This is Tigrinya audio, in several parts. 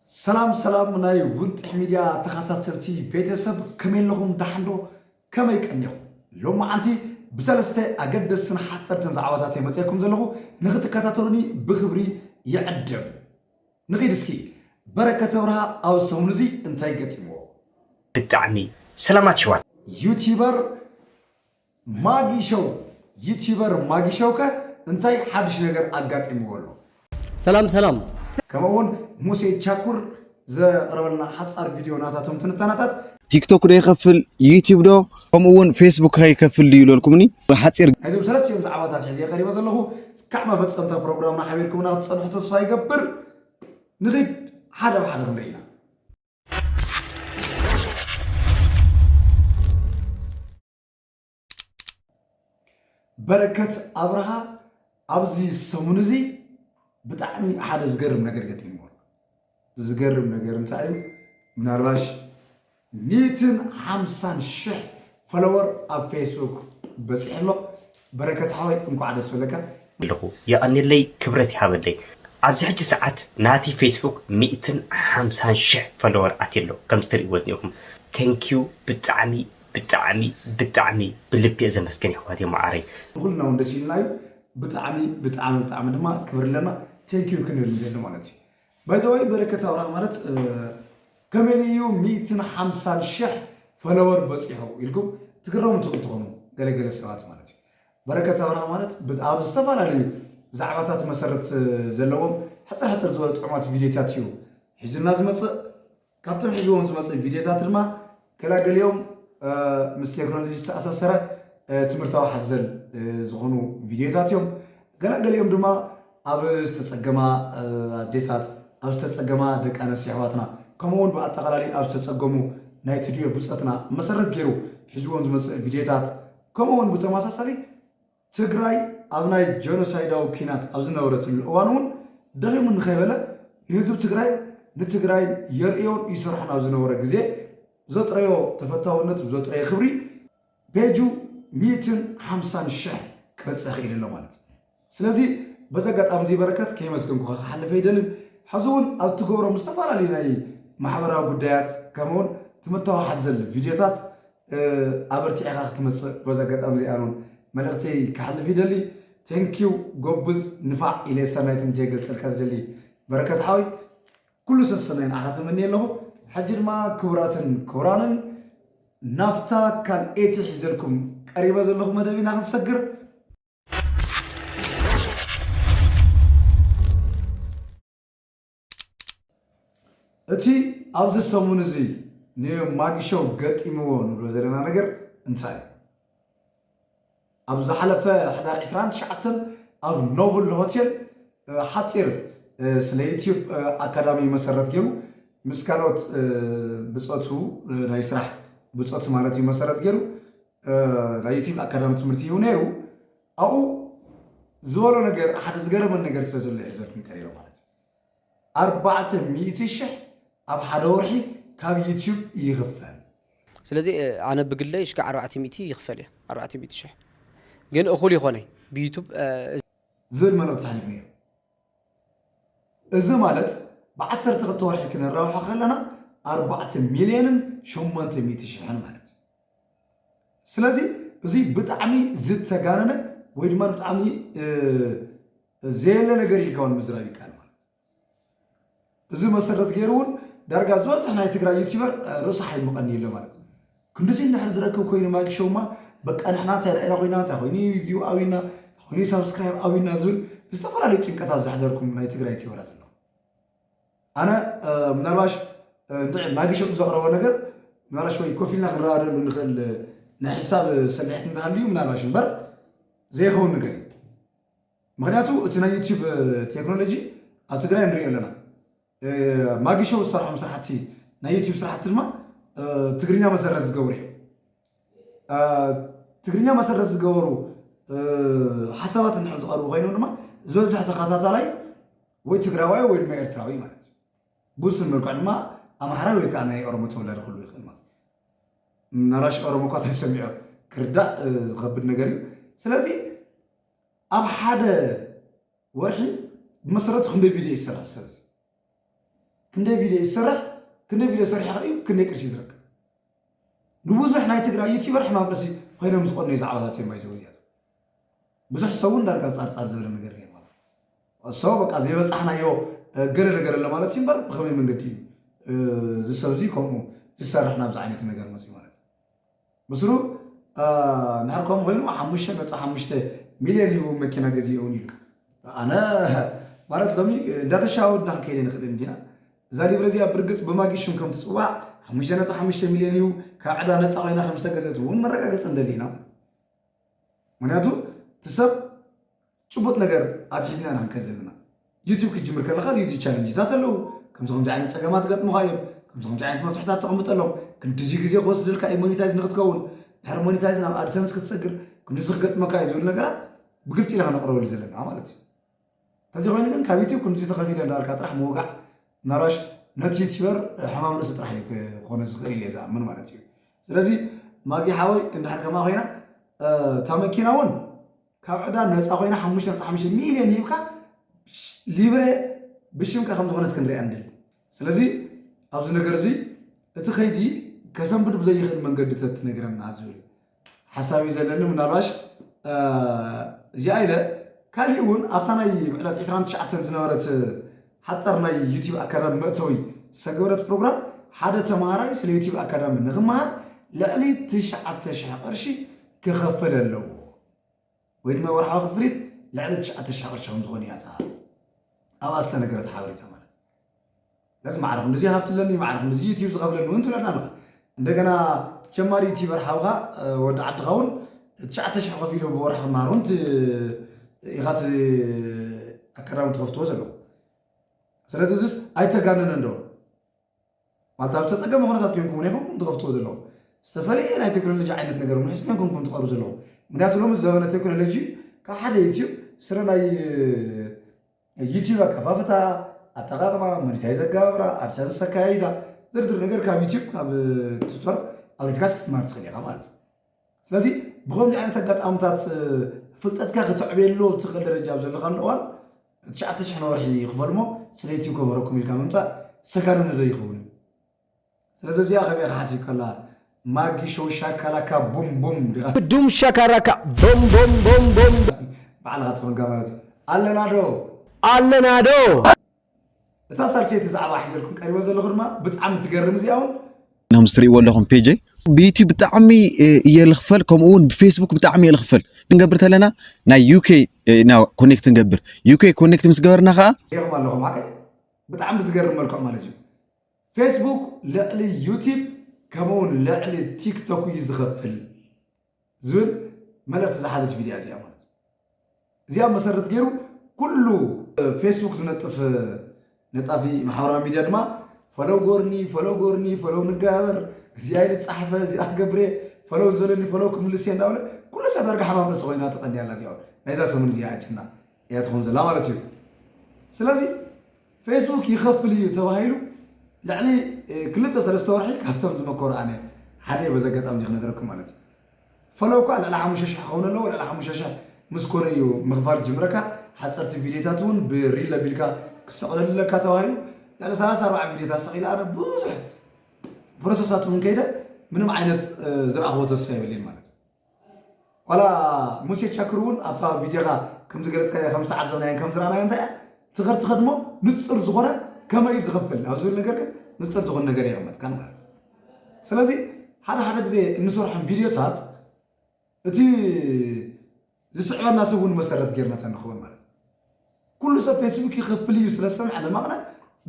ሰላም ሰላም ናይ ውንጥሕ ሚድያ ተኸታተልቲ ቤተሰብ ከመይ ኣለኹም ዳሕንዶ ከመይ ቀኒኹም ሎም መዓንቲ ብሰለስተ ኣገደስትን ሓፀርትን ዛዕባታት እየ መፅኤኩም ዘለኹ ንክትከታተሉኒ ብክብሪ ይዕድም ንኺድ እስኪ በረከተ ብርሃ ኣብ ሰሙን እዚ እንታይ ገጢምዎ ብጣዕሚ ሰላማት ይዋት ዩቲበር ማጊ ሸው ዩቲበር ማጊ ሸውከ እንታይ ሓድሽ ነገር ኣጋጢምዎ ኣሎ? ሰላም ሰላም! ከምኡ ውን ሙሴ ቻኩር ዘቅረበልና ሓጻር ቪድዮ ናታ እቶም ትንታነታት። ቲክቶክ ዶ ይኸፍል ዩቲብ ዶ ከምኡ ውን ፌስቡክኸ ይከፍል ድዩ ኢለልኩምኒ ብሓጺር። ናይዞም ሰለስቲኦም ዛዕባታት እየ ሒዘ ቀሪበ ዘለኹ። እስካዕ መፈጸምታ ፕሮግራምና ሓቢርኩምና ክትጸንሑ ተስፋ ይገብር። ንኺድ ሓደ ብሓደ ክንርኢ ኢና። በረከት ኣብርሃ ኣብዚ ሰሙን እዚ ብጣዕሚ ሓደ ዝገርም ነገር ገጢምዎ ዝገርም ነገር እንታይ እዩ ምናልባሽ ሚትን ሓምሳን ሽሕ ፈለወር ኣብ ፌስቡክ በፂሑ ኣሎ በረከት ሓወይ እንኳዕ ደስ በለካ ኣለኹ የቐንየለይ ክብረት ይሃበለይ ኣብዚ ሕጂ ሰዓት ናቲ ፌስቡክ ሚእትን ሓምሳን ሽሕ ፈለወር ኣትዩ ኣሎ ከምዚ ትርእይዎ ዝኒኹም ተንኪዩ ብጣዕሚ ብጣዕሚ ብጣዕሚ ብልቢየ ዘመስግን የሕዋተይ ማዓረይ። ንኹልና ውን ደስ ኢሉና እዩ ብጣዕሚ ብጣዕሚ ብጣዕሚ ድማ ክብሪ ኣለና thank you ክንብል ንደሊ ማለት እዩ by the way በረከት ኣብርሃ ማለት ከመይ እዩ ሚእትን ሓምሳን ሽሕ ፈለወር በፂሑ ኢልኩም ትግረሙ ትኽእሉ ትኾኑ ገለ ገለ ሰባት ማለት እዩ በረከት ኣብርሃ ማለት ብ ኣብ ዝተፈላለዩ ዛዕባታት መሰረት ዘለዎም ሕፅር ሕፅር ዝበሉ ጥዑማት ቪድዮታት እዩ ሒዙልና ዝመፅእ ካብቶም ሕዝዎም ዝመፅእ ቪድዮታት ድማ ገላገሊኦም ምስ ቴክኖሎጂ ዝተኣሳሰረ ትምህርታዊ ሓዘል ዝኾኑ ቪድዮታት እዮም። ገላገሊኦም ድማ ኣብ ዝተፀገማ ኣዴታት፣ ኣብ ዝተፀገማ ደቂ ኣነስቲ ኣሕዋትና ከምኡ እውን ብኣጠቓላሊ ኣብ ዝተፀገሙ ናይ ትድዮ ብፀትና መሰረት ገይሩ ሒዝዎም ዝመፅእ ቪድዮታት ከምኡ እውን ብተመሳሳሊ ትግራይ ኣብ ናይ ጀኖሳይዳዊ ኲናት ኣብ ዝነበረትሉ እዋን እውን ደኺሙ እንከይበለ ንህዝቢ ትግራይን ንትግራይን የርእዮን ይሰርሖን ኣብ ዝነበረ ግዜ ዘጥረዮ ተፈታውነት ብዘጥረየ ክብሪ ፔጁ ሚእትን ሓምሳን ሽሕ ክበፅሕ ክኢሉ ኣሎ ማለት እዩ። ስለዚ በዚ ኣጋጣሚ እዚ በረከት ከየመስገንኩኻ ክሓልፍ ኣይደልን። ሕዚ እውን ኣብ እትገብሮም ዝተፈላለዩ ናይ ማሕበራዊ ጉዳያት ከምኡውን ትምህርታዊ ሓዘል ቪድዮታት ኣበርቲዕኻ ክትመጽእ በዚ ኣጋጣሚ እዚኣን ውን መልእኽተይ ከሕልፍ ይደሊ Thank you ጎብዝ ንፋዕ ኢለ ሰናይ ትምንተይ ክገልጸልካ ዝደሊ በረከት ሓወይ ኩሉ ሰሰናይ ንዓኻ ተመንየ ኣለኹ ሕጂ ድማ ክቡራትን ክቡራንን ናፍታ ካልኤቲ ሒዘልኩም ቀሪበ ዘለኹ መደብ ኢና ክንሰግር እቲ ኣብዚ ሰሙን እዚ ንማጊሾው ገጢምዎ ንብሎ ዘለና ነገር እንታይ እዩ? ኣብ ዝሓለፈ ሕዳር ዕስራን ትሽዓተን ኣብ ኖቭል ሆቴል ሓፂር ስለ ዩትዩብ ኣካዳሚ መሰረት ገይሩ ምስ ካልኦት ብፆቱ ናይ ስራሕ ብፆት ማለት እዩ መሰረት ገይሩ ናይ ዩትዩብ ኣካዳሚ ትምህርቲ ይህቡ ነይሩ። ኣብኡ ዝበሎ ነገር ሓደ ዝገረመን ነገር ስለ ዘሎ ይሕዘልኩም ቀሪበ ማለት እዩ ኣርባዕተ ሚእቲ ሽሕ ኣብ ሓደ ወርሒ ካብ ዩትዩብ ይኽፈል ስለዚ ኣነ ብግለይ ሽካ ኣርባዕተ ሚእቲ ይኽፈል እየ ኣርባዕተ ሚእቲ ሽሕ ግን እኹል ይኾነይ ብዩቱብ ዝብል መልእኽቲ ተሕሊፉ ነይሩ እዚ ማለት ብዓሰርተ ክልተ ወርሒ ክነራብሖ ከለና ኣርባዕተ ሚልዮንን ሸሞንተ ሚእቲ ሽሕን ማለት እዩ። ስለዚ እዙይ ብጣዕሚ ዝተጋነነ ወይ ድማ ብጣዕሚ ዘየለ ነገር ኢልካ እውን ምዝራብ ይከኣል ማለት እዚ መሰረት ገይሩ እውን ዳርጋ ዝበዝሕ ናይ ትግራይ ዩቲበር ርእሱ ሓይምቐኒ ኣሎ ማለት እዩ። ክንድዚ እንድሕር ዝረክብ ኮይኑ ማጊ ሾው እማ በቃ ንሕና እንታይ ረኣይና ኮይና እንታይ ኮይኑ ቪው ኣውዩና እንታይ ኮይኑ ሳብስክራይብ ኣውዩና ዝብል ዝተፈላለዩ ጭንቀታት ዘሕደርኩም ናይ ትግራይ ዩቲበራት ኣሎ። ኣነ ምናልባሽ እንድዒ ማጊ ሾው ዘቕረቦ ነገር ምናልባሽ ወይ ኮፍ ኢልና ክንረዳደሉ ንኽእል ናይ ሕሳብ ሰልሒት እንተሃልዩ ምናልባሽ እምበር ዘይኸውን ነገር እዩ። ምክንያቱ እቲ ናይ ዩቱብ ቴክኖሎጂ ኣብ ትግራይ ንሪኦ ኣለና ማጊ ሾው ዝሰርሖም ስራሕቲ ናይ ዩቱብ ስራሕቲ ድማ ትግርኛ መሰረት ዝገብሩ እዮም ትግርኛ መሰረት ዝገበሩ ሓሳባት እንድሕር ዝቐርቡ ኮይኖም ድማ ዝበዝሕ ተኸታታላይ ወይ ትግራዋይ ወይ ድማ ኤርትራዊ ማለት እዩ ብውሱን መልክዕ ድማ ኣምሓራይ ወይ ከዓ ናይ ኦሮሞ ተወላዲ ክህሉ ይኽእል ማለት እዩ ናራሽ ኦሮሞ እኳ ተሰሚዑ ክርዳእ ዝኸብድ ነገር እዩ ስለዚ ኣብ ሓደ ወርሒ ብመሰረቱ ክንደይ ቪድዮ እዩ ዝሰርሕ ሰብ እዚ ክንደይ ቪድዮ እዩ ዝሰርሕ ክንደይ ቪድዮ ሰሪሑ ከ እዩ ክንደይ ቅርሺ ዝረክብ ንብዙሕ ናይ ትግራይ ዩቲበር ሕማም ርእሲ ኮይኖም ዝቆኑ ዛዕባታት እዮም ይዘው እዚኣቶ ብዙሕ ሰብ እውን ዳርጋ ፃርፃር ዝበለ ነገር ገይሩ ማለት ሰው በቃ ዘይበፃሕናዮ ገለ ነገር ኣሎ ማለት እዩ እምበር ብከመይ መንገዲ እዩ ዝሰብ እዚ ከምኡ ዝሰርሕ ናብዚ ዓይነት ነገር መፅኡ ማለት ብስሩ እንድሕር ከምኡ ኮይኑ ሓሙሽተ ነጥቢ ሓሙሽተ ሚልዮን ሂቡ መኪና ገዚኡ እውን ኢሉ ኣነ ማለት ከምዚ እንዳተሻወድና ክንከይደ ንኽእል እንዲና እዛ ሊብረ እዚኣ ብርግፅ ብማጊ ሽም ከም ትፅዋዕ ሓሙሽተ ነጥቢ ሓሙሽተ ሚልዮን ሂቡ ካብ ዕዳ ነፃ ኮይና ከም ዝተገዘት እውን መረጋገፂ ንደሊ ኢና ምክንያቱ እቲ ሰብ ጭቡጥ ነገር ኣትሒዝና ኢና ክንከድ ዘለና። ዩቱብ ክትጅምር ከለኻ ዩቱብ ቻለንጅታት ኣለው። ከምዚ ከምዚ ዓይነት ጸገማት ይገጥሙኻ እዮም። ከምዚ ከምዚ ዓይነት መፍትሕታት ተቐምጠሎም። ክንድዚ ግዜ ክወስደልካ እዩ ሞኒታይዝ ንክትከውን። ድሕሪ ሞኒታይዝ ናብ ኣድሰንስ ክትሰግር ክንድዚ ክገጥመካ እዩ ዝብል ነገራት ብግልጺ ኢና ክነቕርበሉ ዘለና ማለት እዩ። ተዚ ኮይኑ ግን ካብ ዩቱብ ክንድዚ ተኸፊለ እንዳበልካ ጥራሕ ምውጋዕ መራሽ ነቲ ዩቲበር ሕማም ርእሲ ጥራሕ እዩ ክኾነ ዝኽእል ኢለ ዝኣምን ማለት እዩ። ስለዚ ማጊ ሓወይ እንድሕር ከምኣ ኮይና እታ መኪና እውን ካብ ዕዳ ነፃ ኮይና ሓሙሽተ ነጥቢ ሓሙሽተ ሚልዮን ሂብካ ሊብሬ ብሽምካ ከም ዝኾነት ክንሪኣ ንደሊ። ስለዚ ኣብዚ ነገር እዚ እቲ ከይዲ ከሰንብድ ብዘይኽእል መንገዲ ተትነግረና ዝብል ሓሳብ እዩ ዘለኒ። ምናልባሽ እዚኣ ኢለ ካሊእ እውን ኣብታ ናይ ዕለት ዕስራን ትሽዓተን ዝነበረት ሓፃር ናይ ዩቲብ ኣካዳሚ መእተዊ ዝተገበረት ፕሮግራም ሓደ ተምሃራይ ስለ ዩቲብ ኣካዳሚ ንክመሃር ልዕሊ ትሽዓተ ሽሕ ቅርሺ ክኸፍል ኣለዎ ወይ ድማ ወርሓዊ ክፍሊት ልዕሊ ትሽዓተ ሽሕ ቅርሺ ከምዝኾን እያ እታ ኣብኣ ዝተነገረት ሓበሬታ ማለት ስለዚ ማዕረ ክንድዚ ሃፍቲ ኣለኒ ማዕረ ክንድዚ ዩቲብ ዝኸፍለኒ እውን ትብለና ኣለኻ እንደገና ጀማሪ ዩቲበር ሓውካ ወዲ ዓድካ ውን ትሽዓተ ሽሕ ከፊሉ ብወርሒ ክመሃር ውን ኢካ እቲ ኣካዳሚ ትከፍትዎ ዘለኩ ስለዚ እዚስ ኣይተጋነነን ዶ ማለት ኣብ ዝተፀገመ ኩነታት ኮይንኩም ውን ኢኩም ትከፍትዎ ዘለኩም ዝተፈለየ ናይ ቴክኖሎጂ ዓይነት ነገር ውን ሒዝኩም ኢኩም ትቀርቡ ዘለኩም ምክንያቱ ሎሚ ዘበነ ቴክኖሎጂ ካብ ሓደ ዩቲብ ስረ ናይ ዩቲዩብ ኣከፋፍታ፣ ኣጠቃቅማ፣ ሞኒታይዝ ኣገባብራ፣ ኣድሰንስ ኣካያይዳ ዝርዝር ነገር ካብ ዩቲዩብ ካብ ቱቶር ኣውሪድካስ ክትማር ትኽእል ኢኻ ማለት እዩ። ስለዚ ብከምዚ ዓይነት ኣጋጣምታት ፍልጠትካ ከተዕብየሉ ትኽእል ደረጃ ኣብ ዘለኻሉ እዋን ትሽዓተ ሽሕ ንወርሒ ክፈልሞ ስለ ዩቲዩብ ከምህረኩም ኢልካ ምምፃእ ሰጋነነዶ ይኸውን እዩ። ስለዚ እዚኣ ከመይ ኢኻ ሓሲብካላ ማጊ ሾው ሻካላካ ቡም ቡም ዲኻ። ዱም ሻካራካ ቦም ቦም ቦም ቦም። ባዕልኻ ትኾንካ ማለት እዩ ኣለና ዶ። ኣለና ዶ። እታ ሳልሰይቲ ዛዕባ ሒዘልኩም ቀሪበ ዘለኹ ድማ ብጣዕሚ ትገርም እዚኣ እውን ኖምስ ትርእይዎ ኣለኹም ፔጀይ ብዩቲብ ብጣዕሚ እየ ልኽፈል ከምኡ እውን ብፌስቡክ ብጣዕሚ እየ ልኽፈል ክንገብር ተለና ናይ ዩኬ ና ኮኔክት ንገብር ዩኬ ኮኔክት ምስ ገበርና ከዓ ሪኢኹም ኣለኹም ሓቀይ ብጣዕሚ ብዝገርም መልክዑ ማለት እዩ ፌስቡክ ልዕሊ ዩቲብ ከምኡ ውን ልዕሊ ቲክቶክ እዩ ዝኸፍል ዝብል መልእኽቲ ዝሓዘት ቪድያ እዚኣ ማለት እዩ። እዚኣ መሰረት ገይሩ ኩሉ ፌስቡክ ዝነጥፍ ነጣፊ ማሕበራዊ ሚድያ ድማ ፈለው ጎርኒ ፈለው ጎርኒ ፈለው ንጋበር እዚኣ ኢሉ ዝፀሓፈ እዚኣ ክገብረ ፈለው ዝበለኒ ፈለው ክምልስ እየ እንዳበለ ኩሉ ሰብ ዳርጋ ሓማም ርእሲ ኮይና ተቐንያ ኣላ እዚኣ ናይዛ ሰሙን እዚኣ ኣጀንዳ እያ ትኸውን ዘላ ማለት እዩ ስለዚ ፌስቡክ ይኸፍል እዩ ተባሂሉ ልዕሊ ክልተ ሰለስተ ወርሒ ካብቶም ዝመከሩ ኣነ ሓደ እየ በዚ ኣጋጣሚ እዚ ክነገረኩም ማለት እዩ ፈለው ከዓ ልዕሊ ሓሙሽተ ሽሕ ክኸውን ኣለዎ ልዕሊ ሓሙሽተ ሽሕ ምስ ኮነ እዩ ምኽፋል ዝጅምረካ ሓፀርቲ ቪድዮታት እውን ብሪል ኣቢልካ ክሰቕለሉ ኣለካ ተባሂሉ ልዕሊ ሰላሳ ኣርባዓ ቪድዮታት ሰቒለ ኣነ ብዙሕ ፕሮሰሳት እውን ከይደ ምንም ዓይነት ዝረኣኽዎ ተስፋ የብለይን ማለት እዩ ዋላ ሙሴ ቸክር እውን ኣብታ ቪድዮኻ ከም ዝገለጽካዮ ከም ዝተዓዘብናዮን ከም ዝረኣናዮን እንታይ እያ ትኸድ ትኸድ እሞ ንጹር ዝኾነ ከመይ እዩ ዝኽፍል ኣብ ዝብል ነገር ግን ንጹር ዝኾነ ነገር የቐመጥካን ማለት እዩ ስለዚ ሓደ ሓደ ግዜ እንሰርሖም ቪድዮታት እቲ ዝስዕበና ሰብ እውን መሰረት ጌርና ተንኸውን ማለት እዩ ኩሉ ሰብ ፌስቡክ ይኸፍል እዩ ስለ ዝሰምዐ ለማቕነ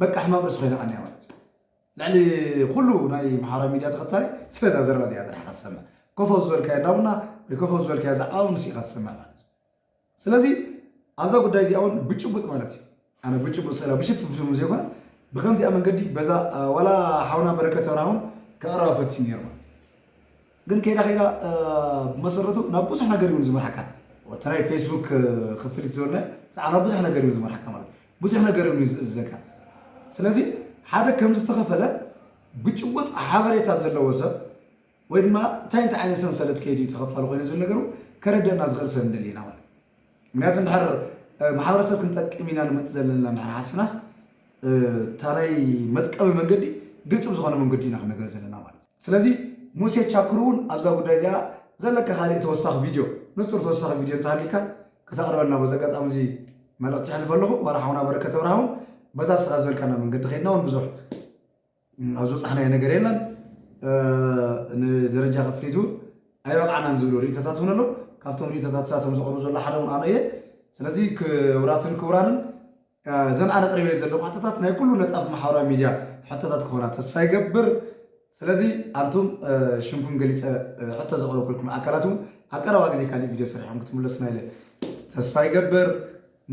በቃ ሕማም ርእሲ ኮይና ቐኒያ ማለት እዩ ልዕሊ ኩሉ ናይ ኣምሓራ ሚድያ ተኸታሊ ስለዛ ዘረባ እዚኣ ጥራሕ ኢኻ ትሰምዕ ኮፍ ኣብ ዝበልካዮ እንዳ ቡና ወይ ኮፍ ኣብ ዝበልካዮ ዛዕባ ውን ንሱ ኢኻ ትሰምዕ ማለት እዩ ስለዚ ኣብዛ ጉዳይ እዚኣ ውን ብጭቡጥ ማለት እዩ ኣነ ብጭቡጥ ስእላ ብሽፍንፍን ዘይኮነት ብከምዚኣ መንገዲ በዛ ዋላ ሓውና በረከት ኣብርሃ ውን ከቕርባ ፈቲኑ ነይሩ ማለት እዩ ግን ከይዳ ከይዳ ብመሰረቱ ናብ ብዙሕ ነገር እዩ ዝመርሓካ እቲ ናይ ፌስቡክ ክፍሊት ዝበልናዮ ብጣዕሚ ናብ ብዙሕ ነገር እዩ ዝመርሓካ ማለት እዩ ብዙሕ ነገር እዩ ዝእዘዘካ ስለዚ ሓደ ከም ዝተኸፈለ ብጭቡጥ ሓበሬታ ዘለዎ ሰብ ወይ ድማ እንታይ እንታይ ዓይነት ሰንሰለት ከይዱ እዩ ተኸፋሊ ኮይኑ ዝብል ነገሩ ከረደና ዝኽእል ሰብ ንደሊ ኢና ማለት ምክንያቱ እንድሕር ማሕበረሰብ ክንጠቅም ኢና ንመፅ ዘለና እንድሕር ሓሲብናስ እታ ናይ መጥቀቢ መንገዲ ግልፂ ብዝኾነ መንገዲ ኢና ክንነገር ዘለና ማለት እዩ ስለዚ ሙሴ ቻኩር እውን ኣብዛ ጉዳይ እዚኣ ዘለካ ካሊእ ተወሳኺ ቪድዮ ንፁር ተወሳኺ ቪድዮ እንተሃልዩካ ክተቕርበልና በዚ ኣጋጣሚ እዚ መልእኽቲ የሕልፎ ኣለኹ። ዋላ ሓውና በረከት ኣብርሃ እውን በዛ ንስኻ ዝበልካና መንገዲ ከይድና እውን ብዙሕ ኣብ ዝበፃሕናዮ ነገር የለን ንደረጃ ክፍሊት እውን ኣይበቕዓናን ዝብሉ ርእቶታት እውን ኣለዉ። ካብቶም ርእቶታት እሳቶም ዘቕርቡ ዘሎ ሓደ እውን ኣነ እየ። ስለዚ ክብራትን ክቡራንን እዘን ኣነ ኣቕሪበየን ዘለኹ ሕቶታት ናይ ኩሉ ነጣፊ ማሕበራዊ ሚድያ ሕቶታት ክኾና ተስፋ ይገብር። ስለዚ ኣንቱም ሽምኩም ገሊጸ ሕቶ ዘቕረብኩልኩም ኣካላት እውን ኣብ ቀረባ ግዜ ካሊእ ቪድዮ ሰሪሕኩም ክትምለሱና ኢለ ተስፋ ይገብር።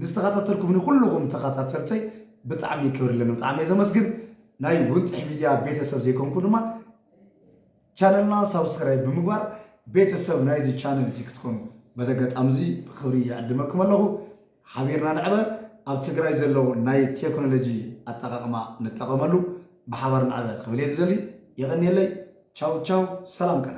ንዝተኸታተልኩምኒ ኩሉኹም ተኸታተልተይ ብጣዕሚ ክብሪ ኣለኒ ብጣዕሚ እየ ዘመስግን። ናይ ውንጥሕ ሚድያ ቤተሰብ ዘይኮንኩም ድማ ቻነልና ሳብስክራይብ ብምግባር ቤተሰብ ናይዚ ቻነል እዚ ክትኮኑ በዚ ኣጋጣሚ እዚ ብኽብሪ ይዕድመኩም ኣለኹ። ሓቢርና ንዕበር፣ ኣብ ትግራይ ዘለዉ ናይ ቴክኖሎጂ ኣጠቓቕማ ንጠቐመሉ፣ ብሓባር ንዕበ ክብል እየ ዝደሊ። የቐንየለይ። ቻው ቻው፣ ሰላም ቅነ።